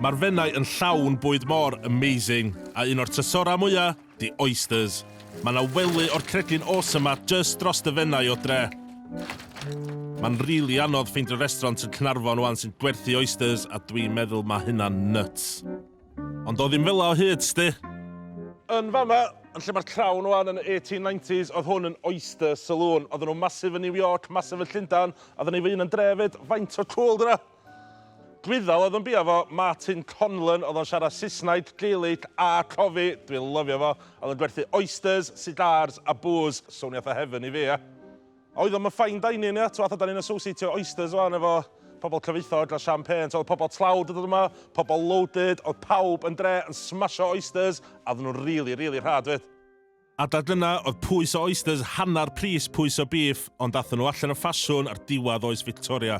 Mae'r Fenai yn llawn bwyd mor amazing a un o'r tysora mwya, di oysters. Mae 'na wely o'r cregyn awesome 'ma jyst drost y Fenai o dre. Mae'n rili anodd ffeindio restraunt yn Cnarfon 'wan sy'n gwerthu oysters a dwi'n meddwl mae hynna'n nuts. Ond o ddim fela o hyd, sdi. Yn fama, yn lle mae'r Crown 'wan, yn y 1890s, oedd hwn yn oyster saloon. Oedden nhw'n massive yn New York, massive yn Llundain, a oedden ni fy hun yn dre 'fyd. Faint o cwl 'di hwnna? Dwythal oedd yn bia fo, Martin Conlon, oedd o'n siarad Saesnaeg, Gaelic a cofi, dwi'n lyfio fo, oedd yn gwerthu oysters, cigars a booze, swnio fatha heaven i fi ia. A oedd o'm yn fine dining ia, t'mo' fatha 'dan ni'n associatio oysters wan efo pobol cyfoethog a champagne, so oedd pobol tlawd yn dod yma, pobol loaded, oedd pawb yn dre yn smasho oysters a oedden nhw'n rili rili rhad 'fyd. A da dyna oedd pwys o oysters hannar pris pwys o bîff ond athon nhw allan o ffasiwn ar diwadd oes Victoria.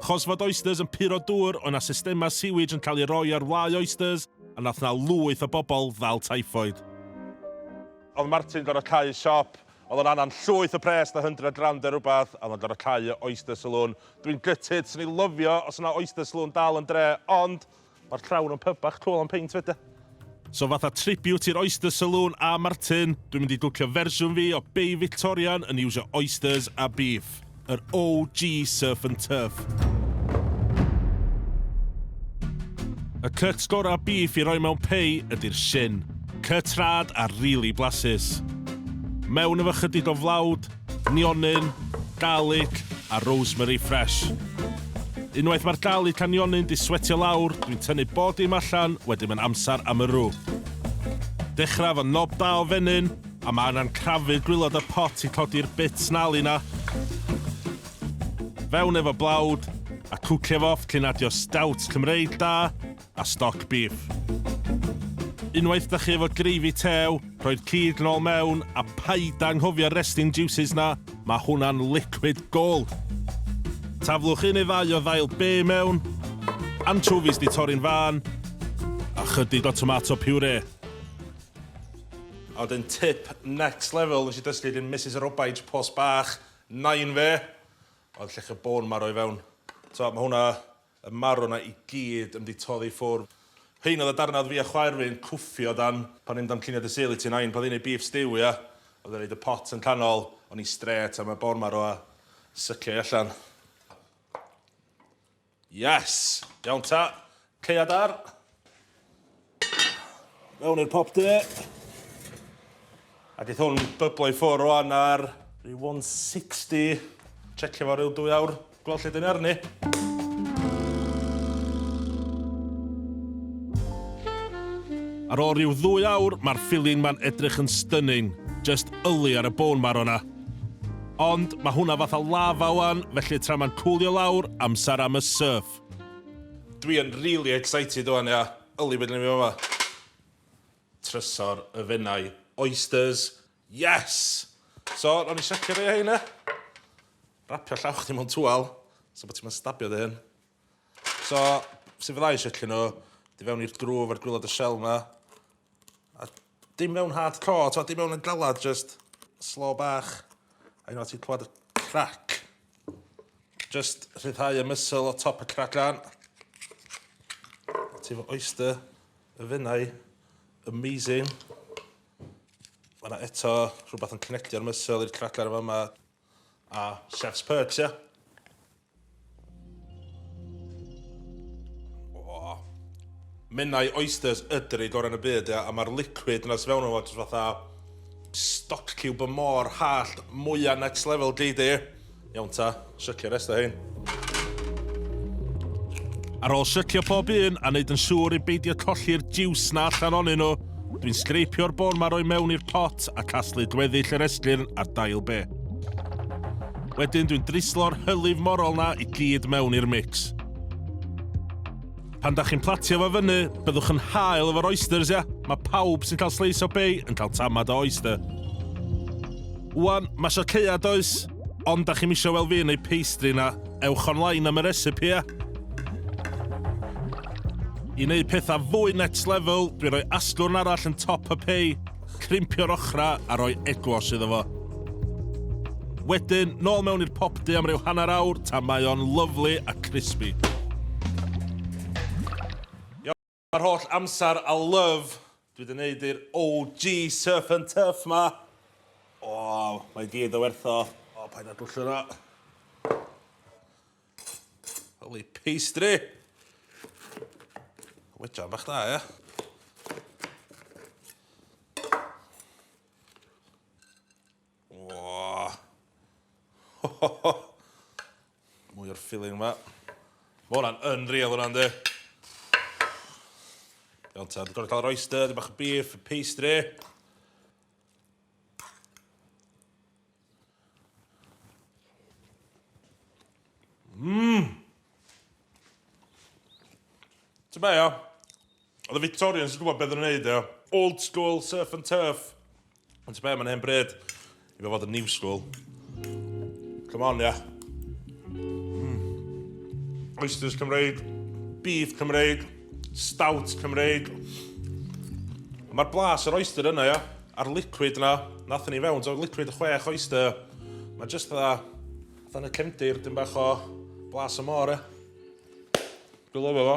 Chos fod oysters yn puro dŵr oedd na systema sewage yn cael ei roi ar wlâu oysters a nath na lwyth o bobl ddal typhoid. Oedd Martin gorfod cau siop, oedd o'n anan llwyth o pres da hundred rand neu rwbath a oedd o'n gorfod cau y oyster saloon. Dwi'n gutted, swn i lyfio os oedd na oyster saloon dal yn dre ond Mae'r llawr yn pyb bach twl am peint fyd e. So fatha tribute i'r Oyster Saloon a Martin, dwi'n mynd i dwcio fersiwn fi o Bay Victorian yn iwsio oysters a beef. Yr OG surf and turf. Y cuts gorau beef i roi mewn pei ydy'r shin. Cuts rad a rili blasus. Mewn efo chydig o flawd, Nionyn, garlic a rosemary fresh. Unwaith mae'r garlic a nionyn 'di swetio lawr, dwi'n tynnu bob dim allan, wedyn mae'n amser am y rw. Dechrau efo nob da o fenyn, a mae angen crafu'r gwilod a'r pot i codi'r bit snarly 'na. Fewn efo blawd, a cwcio fo off cyn adio stout Cymreig da. a stoc bîff. Unwaith da chi efo gravy tew, rhoi'r cig nôl mewn a paid anghofio'r resting juices na, mae hwnna'n liquid gold. Taflwch un neu ddau o ddail be mewn, anchovies di torri'n fân, a chydig o tomato puree. A wedyn tip next level nes i dysgu gin Misus Robaij Post Bach, Nain fe, oedd llechi bôn marw i fewn. T'o' ma' hwnna Y marw 'na i gyd yn 'di toddi ffwr. Rhein oedd y darnau oedd fi a chwaer fi yn cwffio dan pan ni'n damcaniad Dy Sul i ti Nain, pan oedd hi'n neud beef stew ia? Oedd e'n neud y pot yn canol, o'n i strêt am y boar marw a sycio i allan. Yes! Iawn ta! Caead ar! Mewn i'r popty. A gaeth hwn byblo i ffwrdd rwan ar rhyw 160. Checio fo rhyw dwy awr, gweld lle dyn ni arni. Ar ôl rhyw ddwy awr, mae'r filling ma'n edrych yn stunning. Just yli ar y bone marrow 'na. Ond, mae hwnna fatha lava wan, felly tra ma'n cwlio lawr, amser am y surf. Dwi yn really excited ŵan ia. Yli be' 'dan ni myn' i fama? Trysor y Fenai. Oysters. Yes! So, rown ni secio rei o hein ia? Rapio llaw chdi mewn twal, so bo' ti'm yn stabio dy hun. So, su' fydda i secio nw? Du fewn i'r drwg efo'r gwilod y shell 'ma. A dim mewn hard core, t'o' dim mewn yn galad, just slow bach. A unwaith ti'n clywed y crac, just rhyddhau y muscle o top y crac lan. Ti'n fy oyster y fenau, amazing. Mae yna eto rhywbeth yn connectio'r muscle i'r crac ar y fama. A chef's perks, ia? O. Menai oysters ydr i gorau yn y byd, ia? A mae'r liquid yna sy'n fewn o'n fod fatha stock cube y môr hallt mwyaf next level gei di. Iawn ta, sycio rest o hyn. Ar ôl sycio pob un a wneud yn siŵr i beidio colli'r jiws na allan onyn nhw, dwi'n sgreipio'r bôn ma roi mewn i'r pot a casglu gweddill yr esgyrn a'r dail be. Wedyn dwi'n drislo'r hylif morol na i gyd mewn i'r mix. Pan dach chi'n platio fo fyny, byddwch yn hael efo'r oysters, ia? Mae pawb sy'n cael sleis o bay yn cael tamad o oyster. Wan, mae sio ceuad oes, ond da chi'n misio wel fi yn ei pastry na, ewch online am y recipe e. I wneud pethau fwy next level, dwi'n rhoi asgwrn arall yn top y pei, Crimpio'r ochrau a rhoi eglos iddo fo. Wedyn, nôl mewn i'r popdy am ryw hanner awr tan mae o'n lyfli a crispy. Iawn, mae'r holl amser a love dwi 'di neud i'r OG Surf and Turf 'ma, o, mae i gyd o werth o. O, paid â dwllio 'na. Holy pastry! Wedra bach da, ia? Mwy o'r filling yma. Mae hwnna'n yn real hwnna'n di. Iawn ta, dwi'n gorau cael yr oyster, dwi'n bach o beef, pastry. Mmm! Ti'n be, ia? Oedd y Victorians yn gwybod beth yn wneud, ia? Old school, surf and turf. Ond ti'n be, mae'n hen bryd. I fe fod yn new school. Come on, ia. Mm. Oysters Cymreig, beef Cymreig, Stout Cymreig. Mae'r blas yr oyster yna, ia? A'r liquid yna, nath ni fewn, so liquid y chwech oyster. Mae just dda, dda y cefndir, dim bach o blas y môr, ia? Dwi'n lyfio fo.